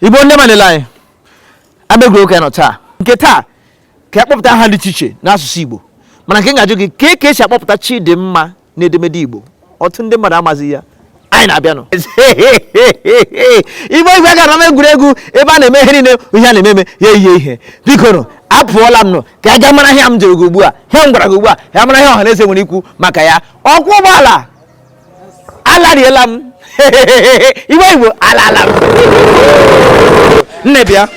igbo ndị ọma na-ele anyị abịagoro oke nọ taa nke taa ka a kpọpụta aha dị iche iche n'asụsụ igbo mana nke m ga-ajụ gị kee ka esi akpọpụta chidimma n'edemede Igbo ọtụtụ ndị mmadụ amazi ya anyị na-abịanụ igbe igwe gara m egwuregwu ebe a na-eme ihe niile ihe a na-eme eme ya ihe bikonụ apụọla m nụ ka a ga mara ihe m jụrụ gị ugbu a ihe m gwara gị ugbu a ya mara ihe ọha na eze nwere ikwu maka ya ọkwọ ụgbọala alariela m iwe igbo ala ala nne bịa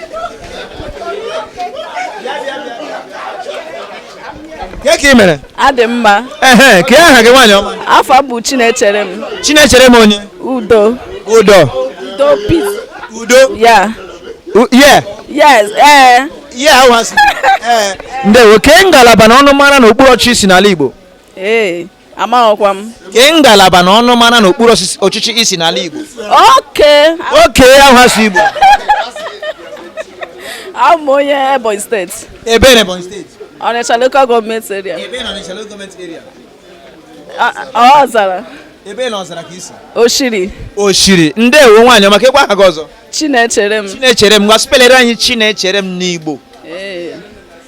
Kee ka ị mere? Adị m mma. Ehe, kee aha gị nwaanyị ọma. Afa m bụ Chinechere m. Chinechere m onye? Udo. Udo. Udo peace. Udo. Ya. Yeah. Yes. Ee. Eh. Yeah, ahụ asị. Ee. Eh. Ndewo, kee ngalaba na ọnụmara n'okpuru ọchịchị ị si n'ala Igbo? Ee. Eh. amaghịkwa m kee ngalaba na ọnụmara n'okpuru ọchịchị ị si n'ala Igbo okay okay ahụ asụ Igbo abụ m onye Ebonyi steeti ebee na Ebonyi steeti Ọnịcha local government area ebee na Ọnịcha local government area ọzara ebee na ọzara ka ị si oshiri oshiri ndewo nwaanyị ọma kekwa aha gị ọzọ chinechere m chinechere m ngwa spelere anyị chinechere m n'igbo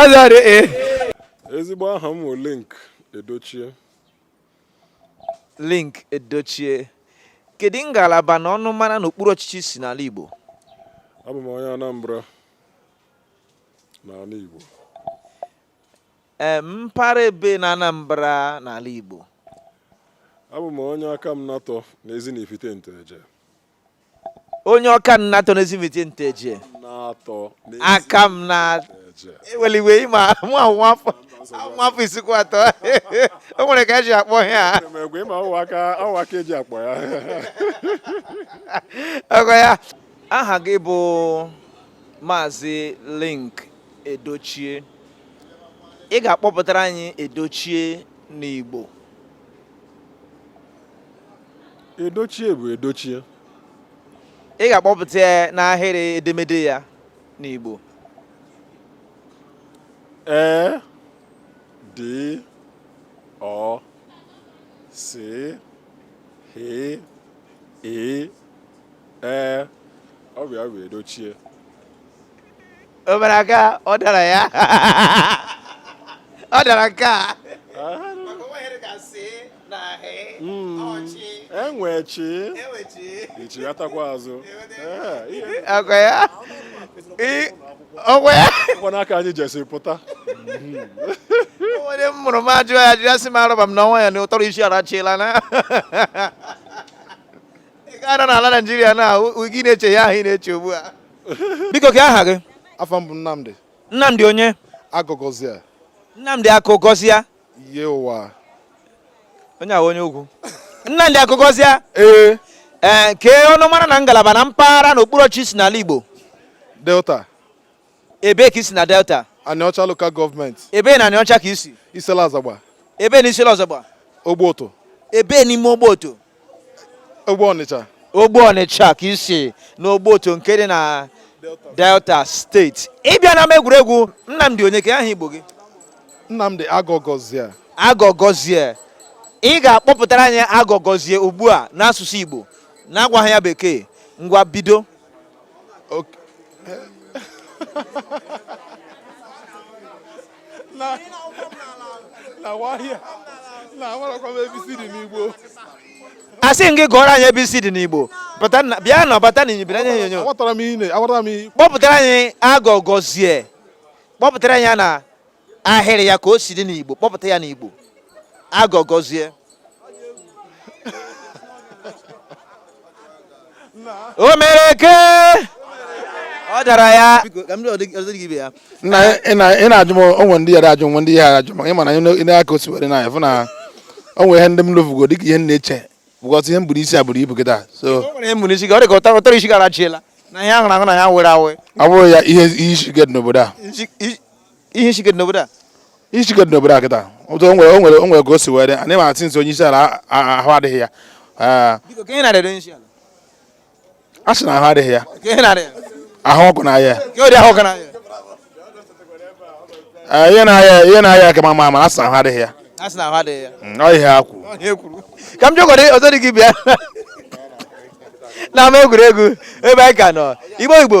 azara e ezigbo aha m bụ linc edochie linc edochie kedu ngalaba na ọnụmara n'okpuru ọchịchị ị si n'ala igbo abụ m onye anambra n'ala igbo mpaghara ebee na anambra n'ala igbo abụ m onye akamanatọ na ezi na ifite nteje onye akamanatọ n'ezinifite nteje aka m na eweliwe ịma mụ ahụ nwafọ nwafọ isikwu atọ o nwere ka eji akpọ ya ọgọ ya aha gị bụ maazị linc edochie ị ga-akpọpụtara anyị edochie n'igbo edochie bụ edochie ị ga-akpọpụta ya n'ahịrị edemede ya n'Igbo e d o c h i e ọ bụ ya bụ edochie o mere ka ọ dara ya ọ dara nke a enwe chi ichighatakwa azụ ọkwa ya ọkwa ya ọkwa n'aka anyị jesiri pụta onye m mụrụ m ajụ ya ajụ ya sị m arọba m n'ọnwa ya na ụtọrọ isi arachiela na ị ga-anọ n'ala Naijiria na gị na-eche ya ahụ ị na-eche ugbu a biko kee aha gị afa m bụ Nnamdi Nnamdi onye agụgọzia Nnamdi agụgọzia ye ụwa onye ahụ onye ugwu Nnamdi agụgọzia ee ee kee ọnụmara na ngalaba na mpaghara na okpuru ọchịchị i si n'ala Igbo Delta ebee ka i si na Delta Anịọcha lokal gọọmenti ebee na Anịọcha ka i si Issele Azagba ebee na Issele Azagba Ogboto ebee n'ime Ogboto ogbo ọnịcha ogbo ọnịcha ka i si n'ogbo otu nke dị na delta steeti ị bịa na ama egwuregwu nnamdi onye kee aha igbo gị nnamdi agọgọzie agọgọzie ị ga-akpọpụtara anyị agọgọzie ugbu a n'asụsụ igbo na-agwaghị ya bekee ngwa bido asị m gị gụọrọ anyị ABCD n'Igbo bịa na bata na inyibere anya onyonyo kpọpụtara anyị agọgọzie kpọpụtara ya na ahịrị ya ka o si dị n'Igbo kpọpụta ya n'Igbo agọgọzie o mere ka ọ dara ya nna ị na-ajụ m o nwe ndị yara ajụ nwe ndị yara ajụ maka ị ma na ị na-aka o si were na fụ na o nwe ihe ndị m lofugo dịka ihe m na-eche bụkọta ihe m buru isi a buru ibu kịta so na ihe ahụrụ ahụ na ya were awe ọ bụrụ ya ihe isi ike dị n'obodo a ihe isi ike dị n'obodo a ihe isi ike dị n'obodo a kịta o nwere nwere o nwere ka o si were anyị ma atị nso onye isi ala ahụ adịghị ya a sị na ahụ adịghị ya ahụ ọkụ na-aya ihe na-arịa ihe na-arịa aka ma ma asị na ahụ adịghị ya mm, ọ ihe ha kwuru ka m jụkọrọ ọzọ dị gị bịa na ama egwuregwu ebe anyị ka nọ igbo igbo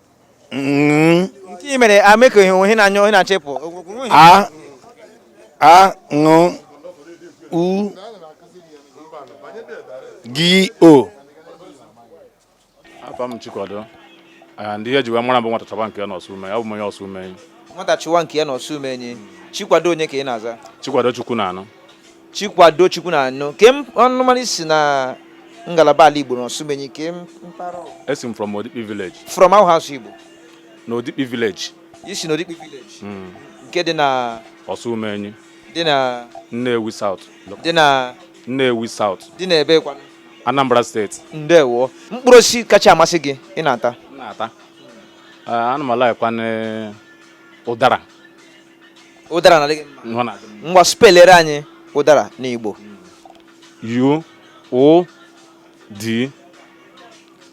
Mm. nke i mere ameko ihe ihe na-aya onye na-achịpụ a a ṅụ u gi o afa m chikwado Ah, ndị ihe e ji wee mara m bụ nwata chọba nke ya n'Osumenyi abụ m onye Osumenyi nwata chụwa nke ya na Osumenyi chikwado onye ka ị na-aza chikwado chukwunanụ Chikwado Chukwunanụ kee ọnụmara i si na ngalaba ala Igbo na Osumenyi kee mpaghara Esi m from Odikpi village. From ọ wụ asụsụ Igbo? Na Odikpi village. I si na Odikpi village? Hmm. Nke dị na Osumenyi. Dị na Nnewi South. Dị na Nnewi South. Dị na ebe kwanụ? Anambra steeti. Ndewo. Mkpụrụ osisi kacha amasị gị ị na-ata? Na-ata. Eh, ana m alikekwa ụdara ụdara na-adị gị mma ọ na-adị mma. ngwa spelere anyị ụdara n'igbo U O D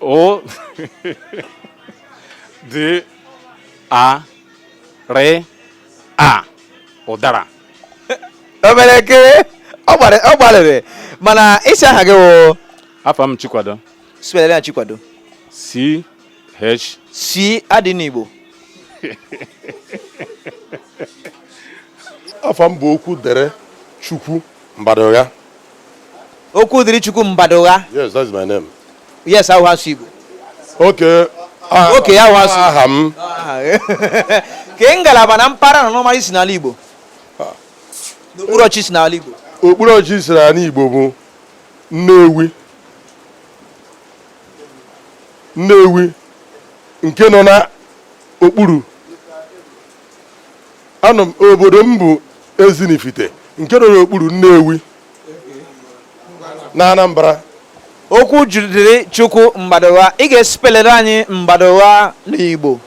O D A R A ụdara o mere eke ọ gbara- ọ gbalịrị mana ị sị aha gị wụ afa m Chikwado spelere anyị chikwado C H. C adịghị n'Igbo. Afa m bụ Okwudirichukwu Mbadugha. Okwudirichukwu Mbadugha. Yes, that's my name. Yes, ọ wụ asụsụ Igbo. Okay. Ah, okay, ahụ asụ. Aha m. Kee ngalaba na mpaghara na ọnụmara i si n'ala Igbo. Ah. N'okpuru ọchịchị i si n'ala Igbo. Okpuru ọchịchị m si n'ala Igbo bụ Nnewi. Nnewi nke nọ n'okpuru Anam- obodo m bụ Ezinifite nke nọ n'okpuru Nnewi na Anambra Okwudirichukwu Mbadugha ị ga-esipelere anyị Mbadugha n'Igbo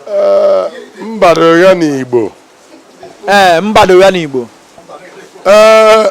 eh, Mbadugha n'Igbo ee eh, Mbadugha n'Igbo ee eh,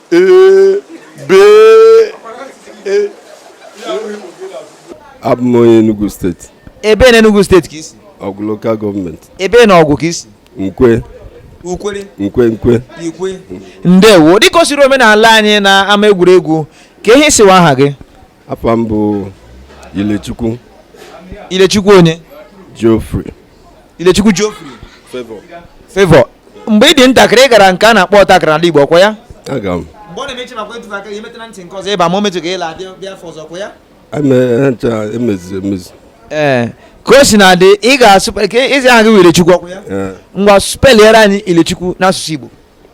abụ m onye Enugu steeti ebe na Enugu steeti ka i si Ọgwụ lokal gọọmenti ebe na Ọgwụ ka i si Nkwe ukwere nkwe nkwe ikwe ndewo dịka o siri omenala anyị na ama egwuregwu kee ihe ị sị wụ aha gị afa m bụ Ilechukwu Ilechukwu onye Geoffrey Ilechukwu Geoffrey Favour Favour mgbe ị dị ntakịrị ị gara nke a na-akpọ ọta akara n'ala Igbo ọkwa ya aga m mgbe ọ na-eme ị makwa etufe aka ya emetụ na ntị nke ọzọ ị baa ma o metụ ka ị laa bịa afọ ọzọ ọkwa ya emeziri emezu ee eh, ka o si na adị ị ga-asụ ka ị sị aha gị wụ Ilechukwu ọkwa ya eh. ngwa speliere anyị Ilechukwu n'asụsụ Igbo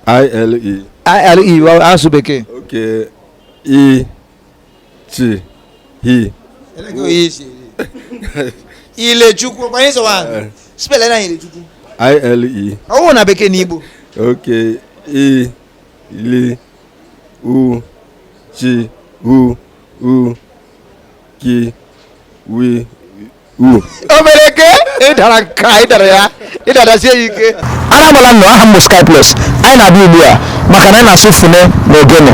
ILE ILE asụsụ bekee okay i e. chi hi ilechukwu ọkwa ihe ị sị wụ aha. speliere anyị ilechukwu ile ọ wụ na bekee na igbo ok i li u chi u u ki wi uru o mere ke ịdara nke a ịdara ya ịdarasie ya ike ara agbala ụnụ aha m bụ sky plus anyị na-abịa ugbu a maka na anyị na-asụ fune na ogene